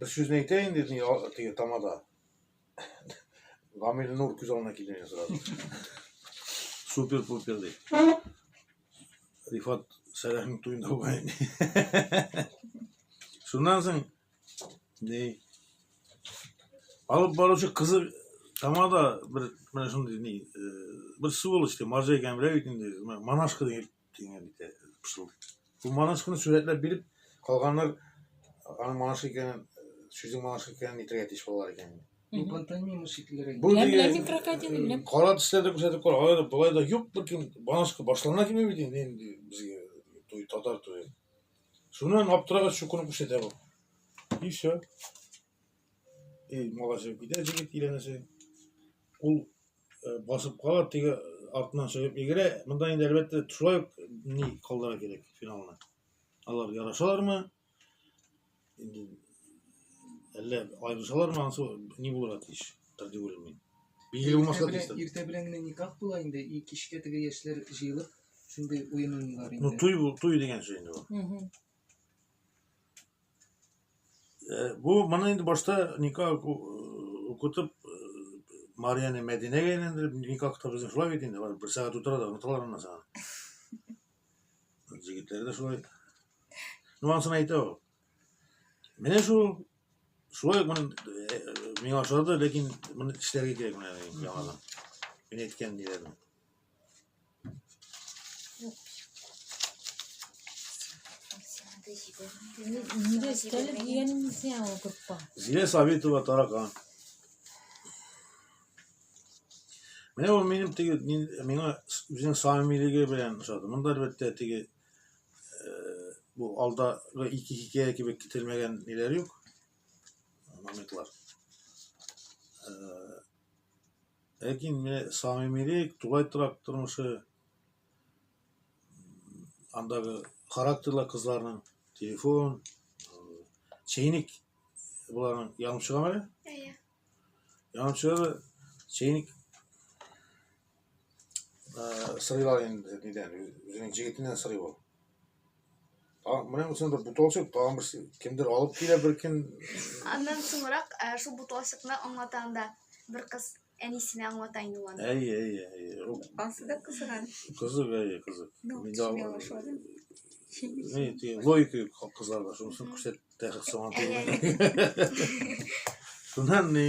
Бер сүзне әйтәйен дидем, я- теге тамада. Гамил Нур күз алдына килде мин сразу. Супер-пупер ди. Рифат Сәләхнең туенда булган инде. Шуннан соң ди. Алып баручы кызы тамада бер менә шундый ни, э, бер сволочь ди, марҗа икән белә бит инде, менә монашка дип Тиңе бит э, пышыл. Бу манашканы сүрәтләп биреп, калганнар аның манашка икәнен, сүзнең манашка икәнен әйтергә тиеш балалар икән. Бу пантомима шикеллерәк. Бу Беләм, беләм, мин крокодилны беләм. Кара төсләрдә күрсәтеп кар, алай да болай да юк бер кем банашка башлана килми бит инде инде безгә туй татар туе. Шуннан аптырагач шукуны күрсәтә бу. И все. Эй, малашып китә җигит киләнәсе. Ул э, басып кала, теге артыннан чыгып егерә. Монда инде әлбәттә шулай ук ни калдыра кирәк финалны. Алар ярашалармы? Инде әллә аерылышалармы? Ансы ни булырга тиеш? Тәртип уйлыйм мин. Билгеле булмаска тиеш. тәртип. Иртә белән генә никах була инде, и кичкә теге яшьләр җыелып, шундый уен уйныйлар инде. Ну, туй, бу- туй дигән сүз инде ул. Мгм. Э, бу моны инде башта никах э, укытып э, Марияны Мәдинәгә әйләндереп, никах та безнең шулай бит инде, бер сәгать утыра да оныталар аннан соң. Җегетләр дә шулай. Ну, ансын әйтә ул. Менә шул шулай ук моны миңа ошады, ләкин моны эшләргә кирәк менә яңадан. Мин әйткән ниләрне. Нигә истәлек дигәнең сиңа ул группа? Зилә Сабитова таракан. Менә ул минем теге мин, миңа үзенең самимилеге белән ошады. Монда әлбәттә теге э, бу алдагы ике хикәя кебек кителмәгән ниләр юк. Моментлар. Э, Ләкин менә самимилек, тулай торак тормышы, андагы характерлы кызларның телефон, чәйник боларның янып чыгамы? Әйе. Янып чыгар чәйник сырыйлар инде нидән үзенең жигитеннән сырый ул менә үзен бер бутылчык тагын бер кемдер алып килә бер кем аннан соңрак шул бутылчыкны аңлата анда бер кыз әнисенә аңлата инде ул аны әйе әйе әйе ансы да кызыган кызык әйе кызык логика юк кызларда шунысын күрсәтте соңан шуннан ни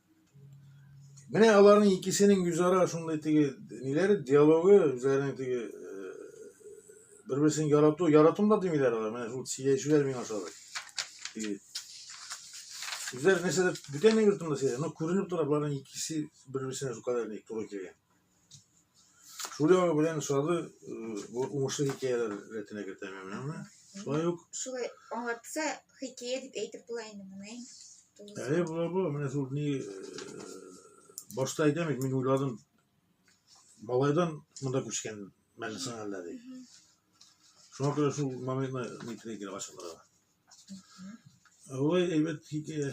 Менә аларның икесенең үзара шундый теге ниләре, диалогы, үзләренең теге бер-берсен ярату, яратым да димиләр алар. Менә шул сөйләшүләр миңа ошады. Теге Үзләр нәрсәдә бүтән йортында сөйлә, но күренеп тора, боларның икесе бер-берсенә шул кадәр туры килгән. Шулай белән сазы э, уңышлы хикәяләр рәтенә кертәм менәме? Шулай ук. Шулай аңлатса хикәя дип әйтеп була инде моны. Әле була бу, менә шул ни э, башта әйтәм, мин уйладым. Малайдан монда күчкән мәлсәңәлләр ди. Шуңа күрә шул моментны никрәгә ашыгыла. Ой, әйбәт хикәя.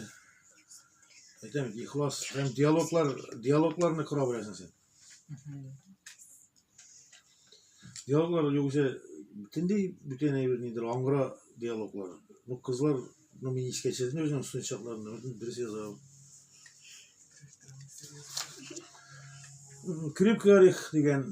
Әйтәм, ихлас һәм диалоглар, диалогларны кора беләсең син. Диалоглар югыйсә бөтенләй бүтән әйбер нидер, аңгыра диалоглар. Ну, кызлар, ну, мин искә төшердем үземнең студент чакларымда, бөтен дөрес язам. М, Крепкий орех дигән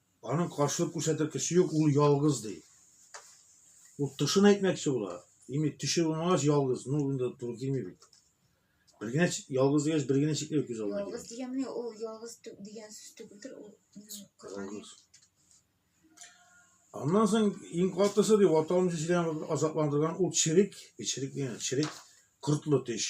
Аның каршылык күрсәтер кеше юк, ул ялгыз ди. Ул тышын әйтмәкче була. Димәк, төше булмагач ялгыз, ну инде туры килми бит. Бер генә ялгыз дигәч, бер генә шикле күз алдына килә. Ялгыз дигәнне ул ялгыз дигән сүз түгелдер, ул ялгыз. Аннан соң иң катысы ди, ватан җирен азапландырган ул чирик, чирик дигән, чирик кортлы теш.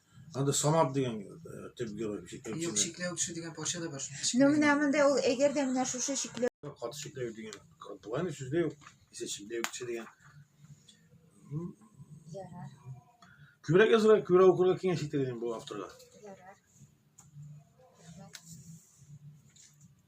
Анда Самат дигән э, төп герой. Юк, Чикләүчене. чикләү кеше дигән парча да бар. Ну, менә монда ул әгәр дә менә шушы чикләү Каты чикләү дигән. Болайны сүз дә юк. Исә чикләү кеше дигән. М, ярар, Күбрәк язырга, күбрәк укырга киңәш итәр идем бу авторга.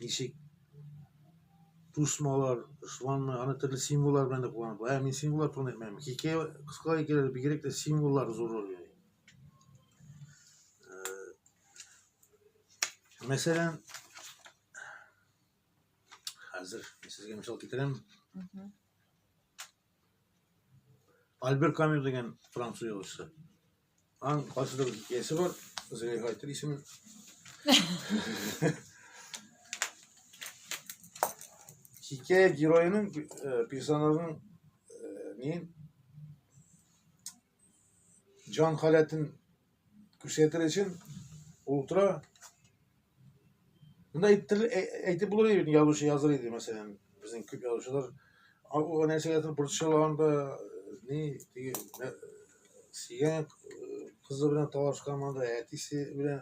ничек тусмалар шуларны аны төрле символлар белән дә кулланып ә мин символлар турында әйтмәдем хикәя кыска хикәяләрдә бигрәк тә символлар зур роль уйный мәсәлән хәзер сезгә мисал китерәм Альбер Камю дигән француз язучысы. Аның кайсыдыр бер хикәясе бар, Зөләйха әйтер исемен. Хикәя героеның, э, персонажның э, неен җан халәтен күрсәтер өчен ул тора Монда әйтеп булыр иде, язучы языр иде, мәсәлән, безнең күп язучылар аңа нәрсәгәдер борчылганда, ни, теге сөйгән кызы белән талашкан монда, әтисе белән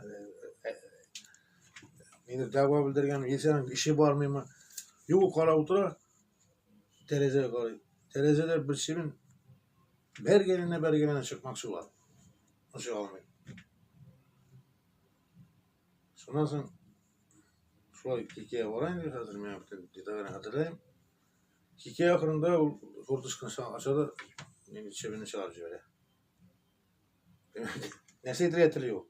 нидер дәва белдергән, яисәң эше бармыймы? Юк, ул карап утыра, тәрәзәгә карый. Тәрәзәдә бер чебен Бер генә бер генә чыкмакчы була. Ошый алмый. Шуннан соң шулай кикә барайын ди хәзер мин бүтән детальне хәтерләйм. Кикә ахырында ул куртышканы ача да мине чебене чыгарып җибәрә. нәрсә әйтергә тели ул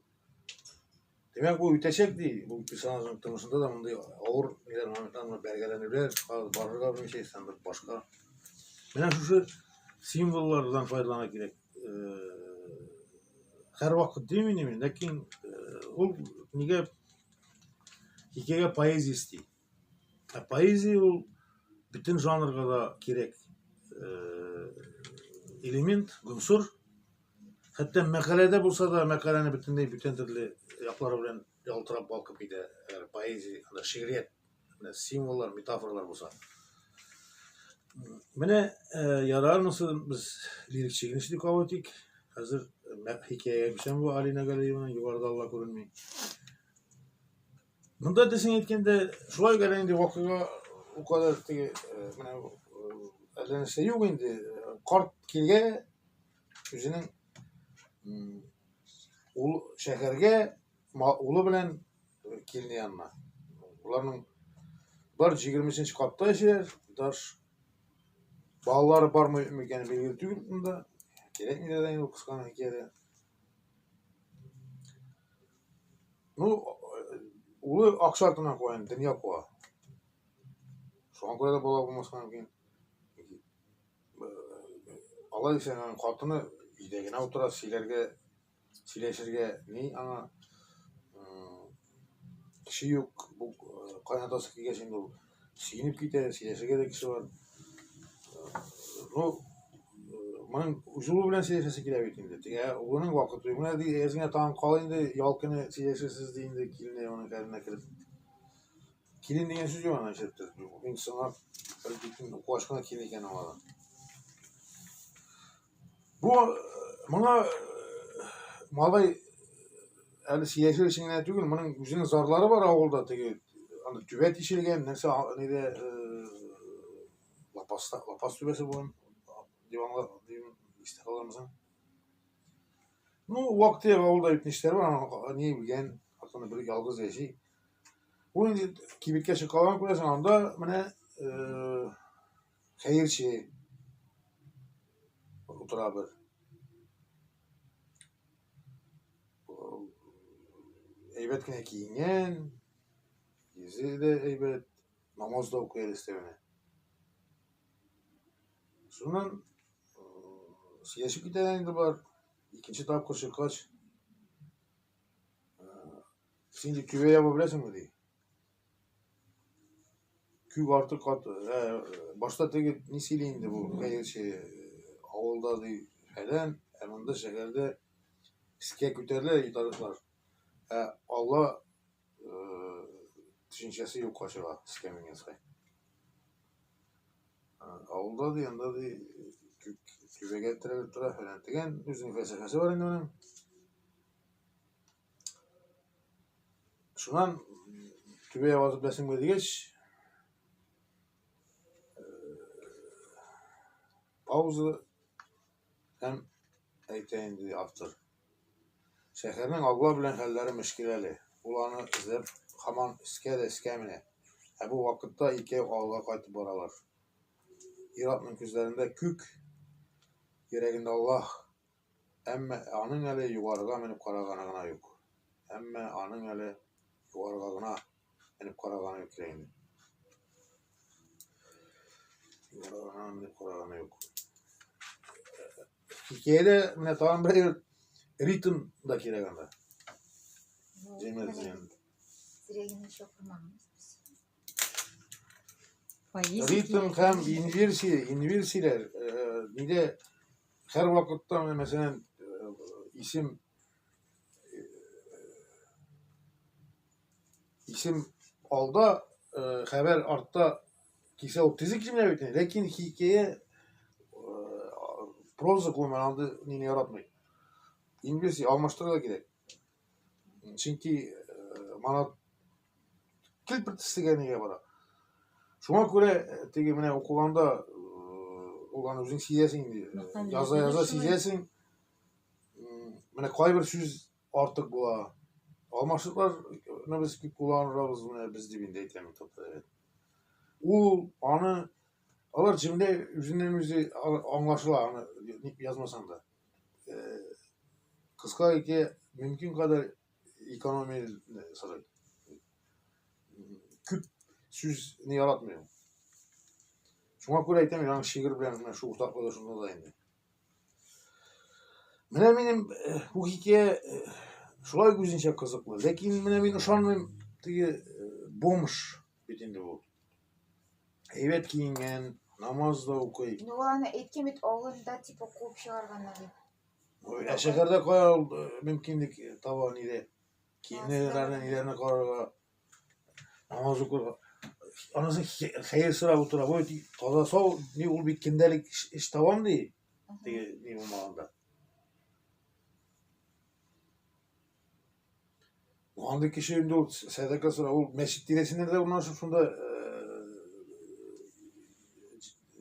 демәк ул үтәчәк ди бу персонажның тормышында да мондый авыр ниләр моментлар бәргәләнүләр барырга белмичә исән бер башка менә шушы символлардан файдалана кирәк һәрвакыт димин мин ләкин ул нигә хикәя поэзиясе ди Ә поэзия ул бөтен жанрга да кирәк э, элемент, гонсур. Хәтта мәкаләдә булса да, мәкаләне бөтенләй бүтән төрле яклары белән ялтырап балкып китә. Әгәр поэзия, анда шигърият, символлар, метафоралар булса. Менә э, ярармысы без лирик чигенеш дип кабул итик. Хәзер э, хикәягә күчәм бу Алина Галиеваның югарыда алла күренми. Монда дисең әйткәндә, шулай генә инде вакыйга у кадәр теге э, менә э, әллә нәрсә юк инде. Карт килгә үзенең ул шәһәргә улы белән э, килде янына. Уларның бар 23 катта яшиләр, даш балалары бармы микән билгеле түгел монда. Кирәкми дә инде кысканы хикәядә. Ну, улы акча артыннан куа, енді дөнья куа. Шуңа күрә дә бала булмаска мөмкин. Алай дисәң, аның хатыны өйдә генә утыра, сөйләргә, сөйләшергә ни аңа кеше юк. Бу кайнатасы килгәч инде ул Сөенеп китә, сөйләшергә дә кеше бар. Ну, моның үз улы белән сөйләшәсе килә бит инде. Тегә улының вакыты юк. Менә ди, әзгә тагын кал инде, ял көне сөйләшерсез ди инде килене моның хәленә кереп. Килен дигән сүз юк ана җирдә. Мин соңлап бер битен куашкына килен икән аңладым. Бу моңа малай әле сәяси эшен генә түгел, моның үзенең зарлары бар авылда теге аны түбә тишелгән, нәрсә нидә лапас лапас түбәсе булган дип аңлар дип истә каламсың. Ну, вакыты авылда бит нишләр бар, ни белгән, хатыны бер ялгыз яши. Ул инде кибеткә чыккан күрәсең, анда менә Хәерче утырабыз. Әйбәт кенә киенгән, йөзе дә әйбәт, намаз да укый әлестә менә. Шуннан сөйләшеп китә инде бар. Икенче тапкыр чыккач, син дип төбә яба беләсеңме ди. Күп артык кат ә, башта теге ни сөйли инде бу, хәерче авылда ди фәлән, ә монда шәһәрдә искә күтәрелә ди тарихлар. Ә Алла э, төшенчәсе юкка чыга искә менгән саен. Ә, Авылда ди, анда ди түбәгә терәлеп тора фәлән дигән үзенең фәлсәфәсе бар инде моның. Шуннан түбәгә барып беләсем килгәч, пауза һәм әйтә инде автор. Шәһәрнең алла белән хәлләре мөшкиләле. Ул аны эзләп һаман искә дә искә менә. Ә бу вакытта икәү авылга кайтып баралар. Ир-атның күзләрендә күк, йөрәгендә Аллаһ. Әмма аның әле югарыга менеп караганы гына юк. Әмма аның әле югарыга гына менеп караганы юк инде. Югарыга гына менеп караганы юк. Хикәядә менә тагын бер ритм да кирәк анда. Димәк, дигән. Ритм һәм инверсия, инверсияләр, э, нидә Һәр вакытта, мәсәлән, исем исем алда, хәбәр артта кисә ул тизек җимлә бит, ләкин хикәя проза күмәләнде, нине яратмый. Инглиз алмаштырырга кирәк. чөнки мана килпет тислегә нигә бара шуңа күрә теге менә укыганда ул аны үзең сизәсең инде яза яза сизәсең менә кайбер сүз артык була алмашлыклар без күп кулланырбыз менә без дип инде әйтәм ул аны алар җөмлә үзеннән үзе аңлашыла аны язмасаң да кыска ике мөмкин кадәр экономия сорый. Күп сүзне яратмыйм. Шуңа күрә әйтәм, яңа шигырь белән менә шул уртаклык да шунда да инде. Менә минем бу хикәя шулай үзенчә кызыклы. Ләкин менә мин ышанмыйм, теге бомж бит инде бу. Әйбәт киенгән, намаз да укый. Ну, ул аны әйткән бит авылында типа куып чыгарганнар дип. Ой, Ә шәһәрдә кая ул э, мөмкинлек таба нидә? Киемнәрне ниләрне карарга, намаз укырга. Анысы хи- хәер сорап утыра. Бу ди- таза сау, ни ул бит кендәлек эш- эш табам ди. Теге ни булмаганда. Ну, андый кеше инде ул сәдака сора, ул мәчет тирәсендә дә урнашып шунда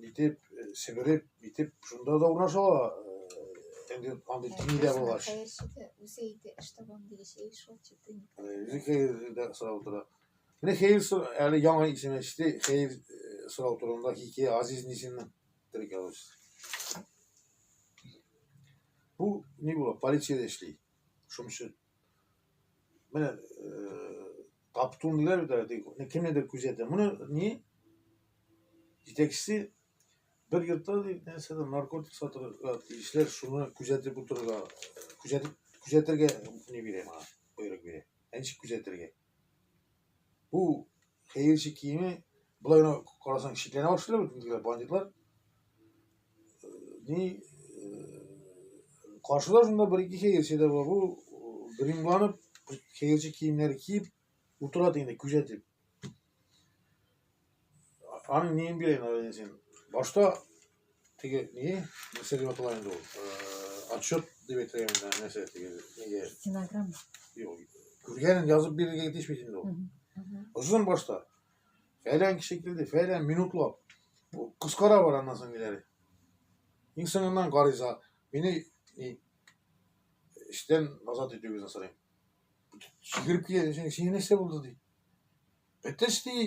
итеп, себереп, итеп шунда да урнаша ала. Инде андый тиңи дә булгач. Үзе әйтә, эш табам дигәч, әй шул читен. Үзе хәер дә сорап утыра. Менә хәер сор, әле яңа исем эчте, хәер сорау турында хикәя Азиз Нисиннең терек алыш. Бу ни була, полициядә эшли. Шуның өчен менә таптунлар да кемнедер күзәтә. Моны ни җитәкчесе бер йортта нәрсә наркотик сатырга тиешләр, шуны күзәтеп утырырга, күзәтеп күзәтергә не бирә моңа, боерык бирә. Ә ничек күзәтергә? Бу Хәерче киеме, болай гына карасаң шикләнә башлыйлар бит инде бандитлар. Ни каршыда шунда бер ике хәерче дә бар. Бу гримланып, хәерче киемнәре киеп утыра инде күзәтеп. Аның неен бирәйин, син? Башта теге не нәрсә дип атала инде ул отчет дип әйтергә мына нәрсә теге нигә стенограмма юк күргәнен язып бирергә тиеш бит инде ул озын башта фәлән кеше килде фәлән минутлап кыскара бар аннан соң ниләре иң соңыннан гариза мине эштән азат итүегезне сорыйм сикереп килгән сиңа нәрсә булды ди әтәч ди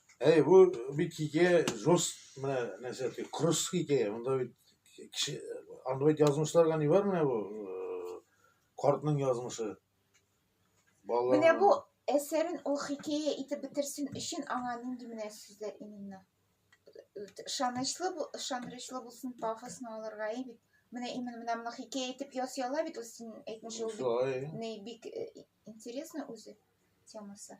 Әй, бу бит хикәя жест менә нәрсә ди, кырыс хикәя. Монда бит кеше анда бит язмышларга ни бар менә бу э, картның язмышы. Балалар. Менә бу әсәрен ул хикәя итеп бетерсен өчен аңа нинди менә сүзләр именно ышанычлы бу- ышанычлы булсын пафосно алырга и бит менә именно менә моны хикәя итеп ясыйлар бит ул син әйтмешә ул бит Шулай. не бик э, интересно үзе темасы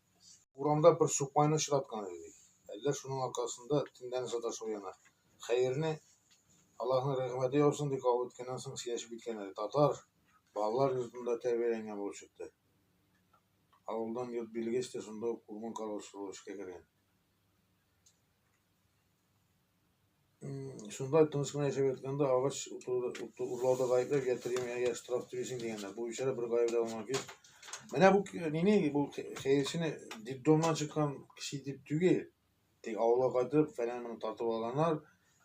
Урамда бер сукмайны очраткан иде бит. Әллә шуның аркасында төнләне саташу яна. Хәерне, Аллаһның рәхмәте яусын, дип кабул иткәннән соң сөйләшеп киткән әле. Татар балалар йортында тәрбияләнгән булып чыкты. Авылдан йорт бирелгәч тә, шунда ук урман каравылчылыгы эшкә кергән. Шунда тыныч кына яшәп ятканда агач урлауда гаепләп йә премия, йә штраф түлисең дигәннәр. Бу бичара бер гаепле алмаган килеш. Менә бу нине бу хәерчене детдомнан чыккан кеше дип түгел. Тик авылга кайтып, фәлән моны тартып алганнар,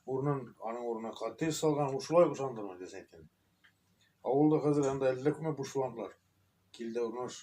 урынын, аның урынына коттедж салган, ул шулай ышандырмый дисәң икән. Авылда хәзер анда әллә күпме буш вантлар. Кил дә урнаш.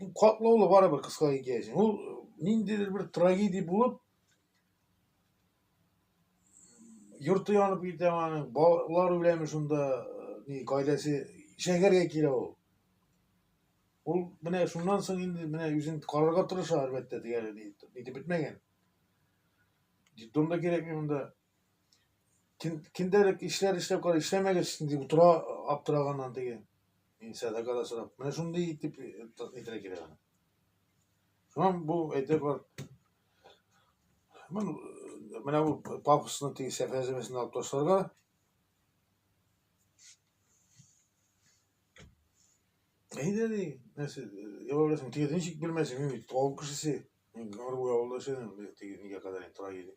Bu катлаулы бары бер кыска хикәясен. Ул ниндидер бер трагедия булып йорты янып китә аның, балалар үләме шунда, ни, гаиләсе шәһәргә килә ул. Ул менә шуннан соң инде менә үзен карарга тырыша, әлбәттә, дигән итеп бетмәгән. Детдомда кирәкми монда. Кин, киндерек ишләр эшләп кара, эшләмәгез дип утыра аптыраганнан теге. Мин сәдака да сорап. Менә шундый итеп әйтергә э, кирәк аны. Шуннан бу әйтә бар. Мен, э, менә бу папасының теге сәфәземесен алып ташларга. Әйдә ди, нәрсә, яваласың, теге ничек белмәсең, мин бит авыл кешесе. Мин гарбуй авылда эшләдем, теге нигә кадәр тора иде.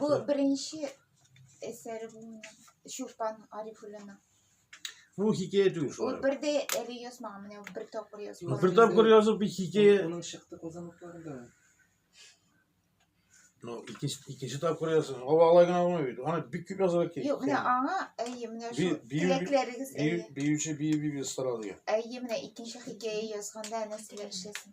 Бу беренче әсәре бу минем. Чулпан Арифуллина. Бу хикәя түгел Ул шулай. бер дә әле язмаган, менә ул бер тапкыр язган. Бер тапкыр язып бит хикәя. Оның шықты козанлыкларында. Ну, икенче икенче тапкыр язсын. Ава алай гына булмый бит. Аны бик күп язарга кирәк. Юк, менә аңа әйе, менә Би- шул бию- теләкләрегез әйе. Биюче бию бию старал дигән. Әйе, менә икенче хикәя язганда әнә теләк эшләсен.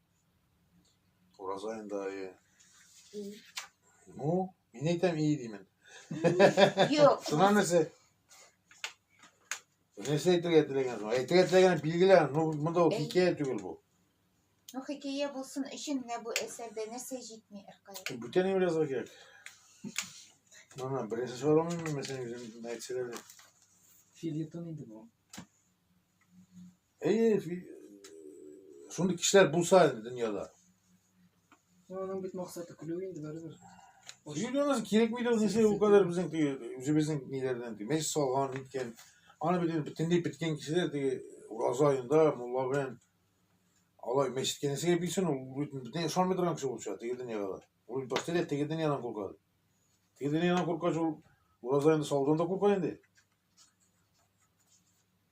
Ураза инде айы. Ну, мин әйтәм ии димен. Юк. Сына нәрсә? Нәрсә әйтергә теләгән? Әйтергә теләгән билгеле, ну монда ул хикәя түгел бу. Ну, хикәя булсын өчен менә бу әсәрдә нәрсә җитми Иркай? Бүтән ним язарга кирәк? Мана, беренче чыгарылмыймы, мәсәлән, үзем әйтсәләр. Филитон инде бу. Әйе, шундый кешеләр булса инде дөньяда. Аның бит максаты көлү инде барыбер. Юлиянасы кирәк бит ул нәрсә, ул кадәр безнең теге үзебезнең ниләрдән теге мәҗлис салган иткән. Аны бит бөтенләй беткән кешеләр теге ураза аенда мулла белән алай мәчеткә нәрсәгә бирсен, ул бөтенләй ышанмый торган кеше булып чыга теге дөньяга да. Ул башта теге дөньядан курка. Теге дөньядан куркач ул ураза аенда салудан да курка инде.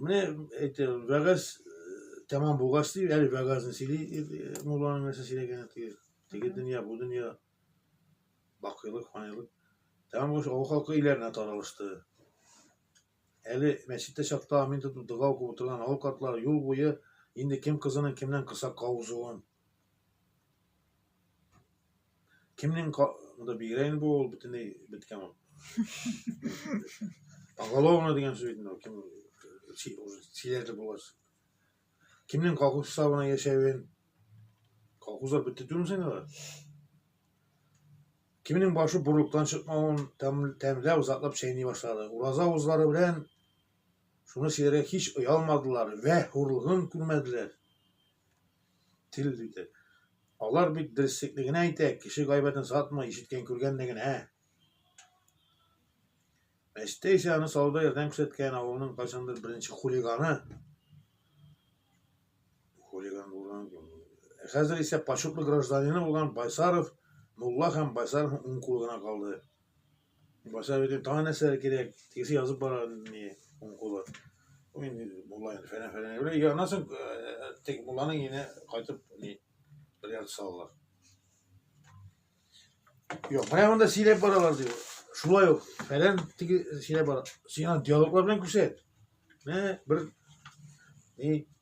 Менә әйтә, вәгазь тәмам булгач ди, әле вәгазьне сөйли, мулланың нәрсә сөйләгәне теге, теге дөнья, бу дөнья, бакыйлык, фанилык. Тәмам булгач, авыл халкы өйләренә таралышты. Әле мәчеттә чакта амин тотып дога укып утырган авыл картлары юл буе инде кем кызының кемнән кысакка узуын, Кемнең монда бигрәк инде ул бөтенләй беткән ул. Поголовно дигән сүз инде ул кем сөйләрде булгач. Кемнең колхоз сабына яшәвен колхозлар бетте түгел син алар. Кемнең башы бурлыктан чыкмавын тәмләп, затлап чәйни башлады. Ураза узлары белән шуны сөйләргә һич оялмадылар вә хурлыгын күрмәделәр. Тел диде. Алар бит дөреслекне генә әйтә, кеше гайбәтен сатмый, ишеткән күргәнне генә. Мәчеттә исә аны салуда ярдәм күрсәткән авылның кайчандыр беренче хулиганы. Хулиган булган. Ә хәзер исә почетный гражданины булган Байсаров, Мулла һәм Байсаровның уң кулы гына калды. Баса бирдем, тагы нәрсәләр кирәк, тегесе язып бара, не, уң кулы. Инде муллаен фәлән фәлән белә. Я, аннан соң тек мулланың ине кайтып не бер ярты салалар. Юк, менә монда сөйләп баралар ди. Шулай ук фәлән теге сөйләп бара. Сиңа диалоглар белән күрсәт. Менә бер не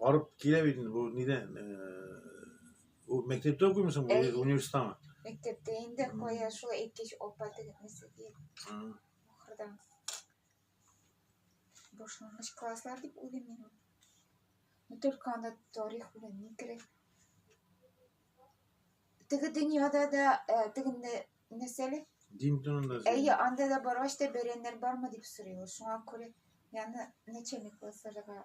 Арып килә бит инде бу нидән? Ул мәктәптә укыймысың, Әй. университетамы? Мәктәптә инде кая шул әйткәч апа тегетмесе дип ахырдан башлангыч класслар дип уйлыйм мин. Ну только анда тарих белән ни керә? Теге дөньяда да э, теге нә- нәрсәле? Дин турында. Әйе, анда да баргач та бәрәннәр бармы дип сорыйлар. Шуңа күрә яны начальник классларга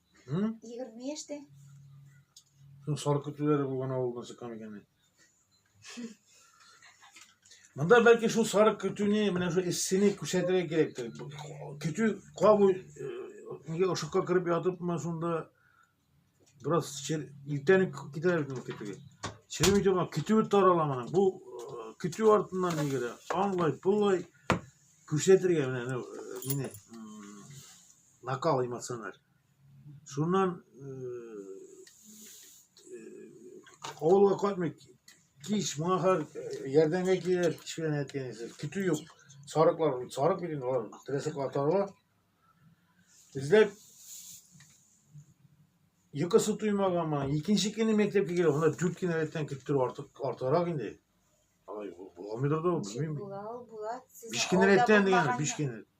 Hı? 20 яшьтә. Шул сарык көтүләре булган авылдан чыккан икән. Монда бәлки шул сарык көтүне, менә шул эссене күрсәтергә кирәктер. Көтү кабу э, нигә ошыкка кереп ятыпмы шунда бераз чер... иртән үк китә бит ул көтүгә. Черемей торган көтүе тарала моның. Бу э, көтү артыннан нигә аңлай, пулай күрсәтергә менә э, мине накал эмоциональ. Шуннан э, э, авылга кайтмый кич моңа хәл ярдәмгә килер кич белән әйткән исез көтү юк сарыклар сарык бит инде алар трәсәк атарга эзләп йокысы туймаган мына икенче көне мәктәпкә килә анда дүрт кенә рәттән көттерү артык артыграк инде буламыйдыр да ул белмим биш кенә рәттән дигән биш кенә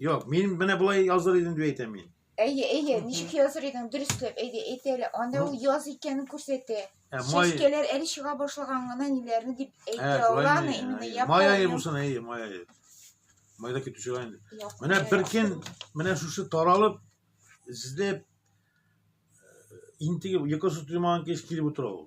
Юк, мин менә болай языр идем дип әйтәм мин. Әйе, әйе, ничек языр идең, дөресләп, әйдә, әйт әле. Анда ул яз икәнен күрсәтә. Ә май... Чәчкәләр әле чыга башлаган гына ниләрне дип әйтә аланы, именно япон. Май айы булсын, әйе, май айы. Майда китүче ай инде. Менә бер көн, менә шушы таралып, эзләп, интегеп, йокысы туймаган кеш килеп утыра ул.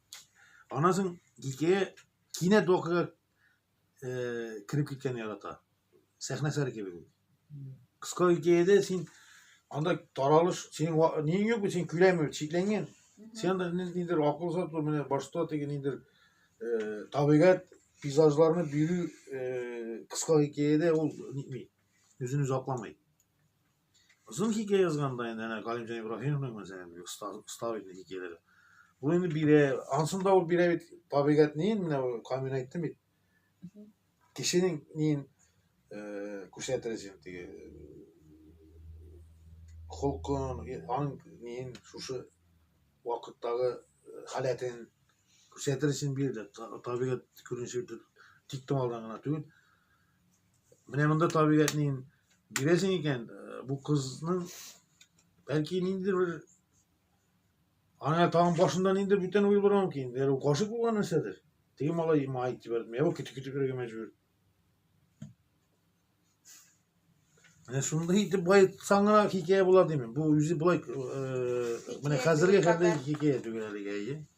Аннан соң кичкә кинәт вакыйга э, кереп киткән ярата. Сәхнә әсәре кебек ул. Кыска хикәядә син анда таралыш, синең ва- ниң юк, син көләме, шикләнгән. Сен анда ни- ниндер акыл сату, менә башта теге ниндер э, табигать пейзажларны бирү э, кыска хикәядә ул нитми, үзен үзе акламый. Озын хикәя язганда инде әнә Галимҗан Ибраһимовның мәсәлән бик оста оста бит хикәяләре. Бу инде бирә, ансын да ул бирә бит табигать ни менә камин әйтте бит. Кешенең нин э, күрсәтер син теге холкын, аның нин шушы вакыттагы э, халәтен күрсәтер син бирде. Табигать күренеше тик томалдан гына түгел. Менә монда табигатьнең бирәсең икән, э, бу кызның бәлки ниндидер бер аңа тагын башында ниндидер бүтән уй булырга мөмкин. Әгәр ул гашык булган нәрсәдер, теге малай май итеп бәрдем. Я көтеп көтеп йөрергә мәҗбүр. Менә шундый итеп байтсаң гына хикәя була димен. Бу үзе болай э, менә хәзергә хәтле хикәя түгел әлегә, әйе.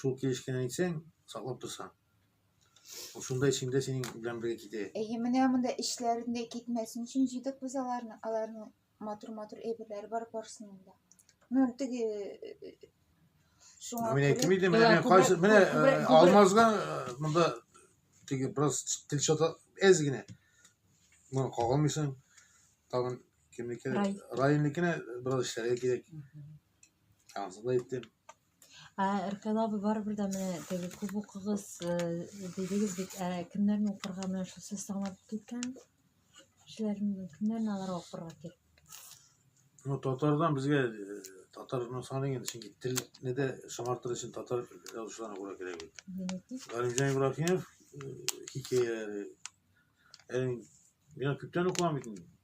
шул килешкән әйтсәң, саклап торсаң. Ул шунда эчендә синең белән бергә китә. Әйе, менә монда эшләрендә китмәсен өчен җыйдык без аларны. Аларның матур-матур әйберләре бар барсының да. Ну, теге э, шуңа Мин әйтем иде, менә мен кайсы, менә э, алмазга э, монда теге бераз тел чата әз генә. Моны кагалмыйсың. Тагын кемнеке? Районникенә бераз эшләргә кирәк. Аңсыз да әйттем. Ә Ркәл абый барыбер дә менә теге күп укыгыз э, дидегез бит, ә кемнәрне укырга менә шул сез таңлап киткән кешеләрне кемнәрне аларга укырга кирәк? Ну, татардан безгә э, татар ну, саный инде, чөнки телне дә шомартыр өчен татар язучыларына күрә кирәк бит. Генетик. Галимҗан Ибраһимов э, хикәяләре. Әле мин күптән укыган бит инде.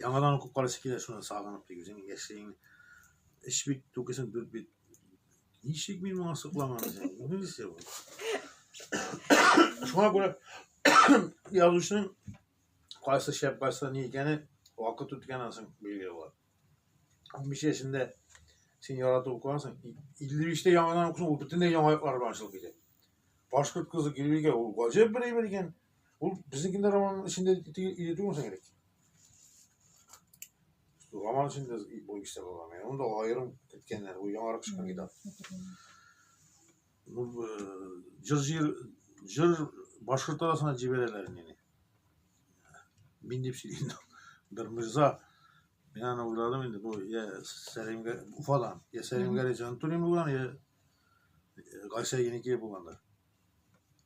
Яңадан укып карыйсы килә, шуны сагынып тик үзең яшьлегең. Эш бит, түкесен дүрт бит. Ничек мин моңа сокланган икән? Инглизчә бу. Шуңа күрә язучының кайсы шәп, кайсы ни икәне вакыт үткәннән соң билгеле була. 15 яшендә син яратып укыгансың, 55-тә яңадан укысаң, ул бөтенләй яңа яклар белән ачылып китә. Башкорт кызы Гөлбикә ул гаҗәп бер әйбер икән. Ул безнекендә романның эчендә иде түгелме соң элек? Роман эчендә бу исә булган. Анда аерым киткәннәр, ул яңарак чыккан китап. Җыр җыр җыр башкорт арасына җибәрәләр мине. Мин дип сөйлим. Бер мирза мин аны уйладым инде бу я Сәлимгә Уфадан. Я Сәлимгә Җантурин булган, я Гайсә Еники булганда.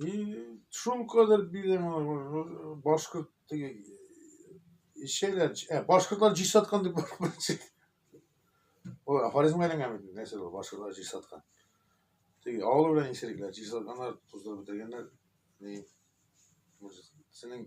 И шул кадәр билем башкорт эчәләр. Ә, башкортлар җир саткан дип бармыйчы. Ой, афоризмга әйләнгән бит, нәрсә ул, башкортлар җир саткан. Теге авылы белән исерекләр, җир сатканнар, туздырып бетергәннәр. Ни, синең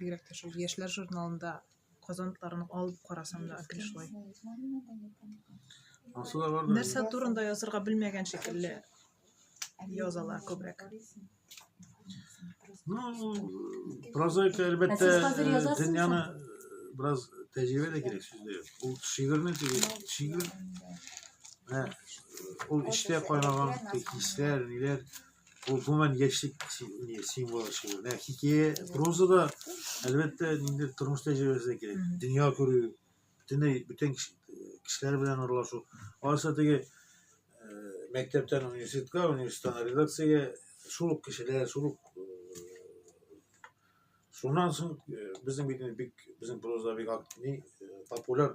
Бигрәк тә шул яшьләр журналында казантларын алып карасам да әкрен шулай. Алсу да бардыр. Нәрсә турында язырга белмәгән шикелле язалар күбрәк. Ну, прозаика, әлбәттә, Ә сез хәзер э, язасыз дөньяны э, бераз тәҗрибә дә кирәк сүздә. Ул шигырьне теге шигырь Ә, ул эчтә кайнаган хисләр, ниләр, Bu гомумән яшьлек символы шул. Ә хикәя прозада әлбәттә инде тормыш тәҗрибәсе кирәк. Дөнья күрү, бөтенләй бүтән кешеләр белән аралашу. Алайса теге мәктәптән университетка, университеттан редакциягә шул ук кешеләр, шул ук Шуннан соң безнең бит бик безнең проза бик популяр